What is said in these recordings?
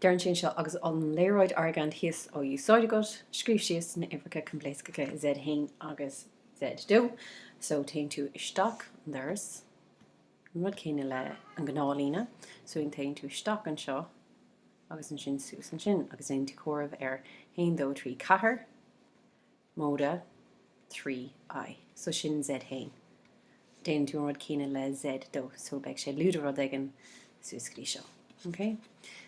Deireann sí anseo, agus an léaráid Argand thíos á úsáid agat, scríobh síos na h-uimhreacha coimpléascacha Z1 agus Z2, so téann tú isteach an doras, an rud céanna leis an ghnáthlíne, so an téann tú isteach anseo agus ansin suas ansin agus déanann tú comhaireamh ar 1, 2, 3, 4, Móide trí I, so sin Z haon. Déanann tú an rud céanna le Z dó, so beidh sé lúide rud éigin suas go dtí seo. OK?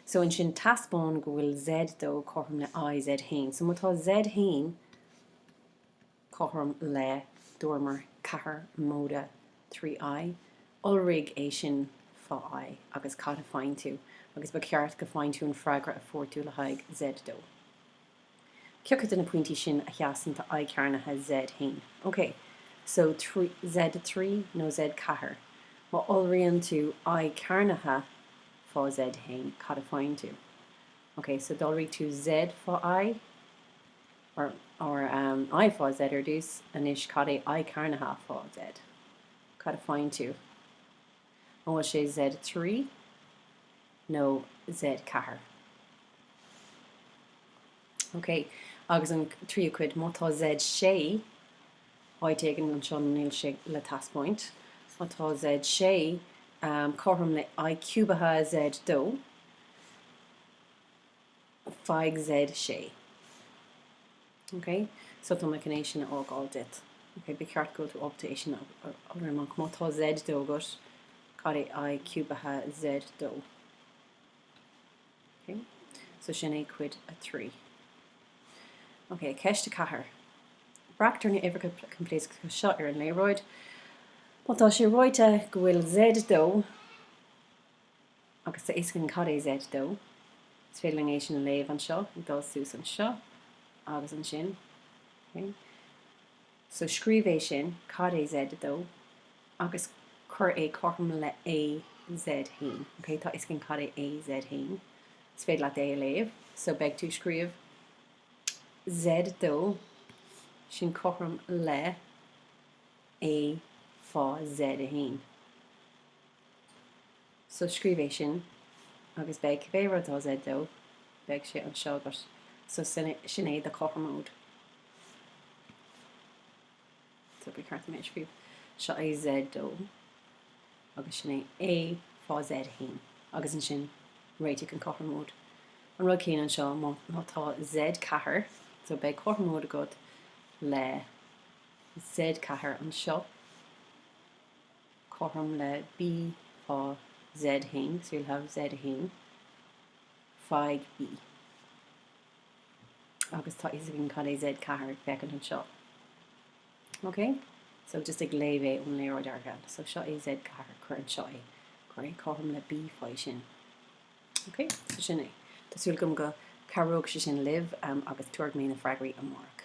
So ansin teaspáin go bhfuil Z dó cothrom le I Z haon. So má tá Z haon cothrom le, dúramar, ceathair móide trí I, iolraigh é sin fá I agus cad a faigheann tú? Agus ba cheart go bhfaigheann tú an freagra a fuair tú le haghaidh Z dó. Cé acu de na pointí sin a sheasann do I cearnaithe Z1? Ok, so Z3 nó Z4? Má iolraíonn tú I cearnaithe fá Z1, cad a faigheann tú? Ok, so d'iolraigh tú Z fá I, or, or um, I fá Z ar dtús, anois cad é I cearnaithe fá Z? Cad a faigheann tú? An bhfuil sé Z trí nó Z ceathair? OK, agus an tríú cuid, má tá Z sé áit éigin anseo, níl sé le taispeáint. Má tá Z sé cothrom le I ciúbaithe Z dó, faigh Z sé. Ok? So tá mé chun é sin a fhágáil duit. Ok? Ba cheart go bhfuil tú ábalta é sin a fháil amach. Má tá Z dó agat, cad é I ciúbaithe Z dó? Ok? So sin é cuid a trí. Ok, ceist a ceathair. Breactar na uimhreacha coimpléascacha seo ar an léaráid. Má tá sé ráite go bhfuil Z dó, agus tá fhios againn cad é Z dó. Is féidir linn é sin a léamh anseo, ag dul suas anseo agus ansin. Okay? So scríobh é sin, cad é Z dó, agus cuir é cothrom le A Z haon. Okay? Tá fhios againn cad é A Z haon. Is féidir leat é a léamh. So beidh tú ag scríobh Z dó, sin cothrom le A fá Z haon. So scríobh é sin agus beidh cibé rud atá Z dó, beidh sé anseo agat. So sin, sin é do chothromóid. So ba cheart dom é a scríobh. Seo é Z dó agus sin é A fá Z haon agus ansin réitigh an cothromóid. An rud céanna anseo, má, má tá Z ceathair, so beidh cothromóid agat le Z ceathair anseo. cothrom le B fá Z1, so you'll have Z1 fá B. Agus tá fhios againn cad é Z4 ag féachaint anseo. OK? So just ag léamh é ón léaráid Argand. So seo é Z4, cuir anseo é. Cuir é cothrom le B fá sin. OK? So sin é. Tá súil agam go gcabhróidh sé sin libh um, agus tabharfaidh mé na freagraí amárach.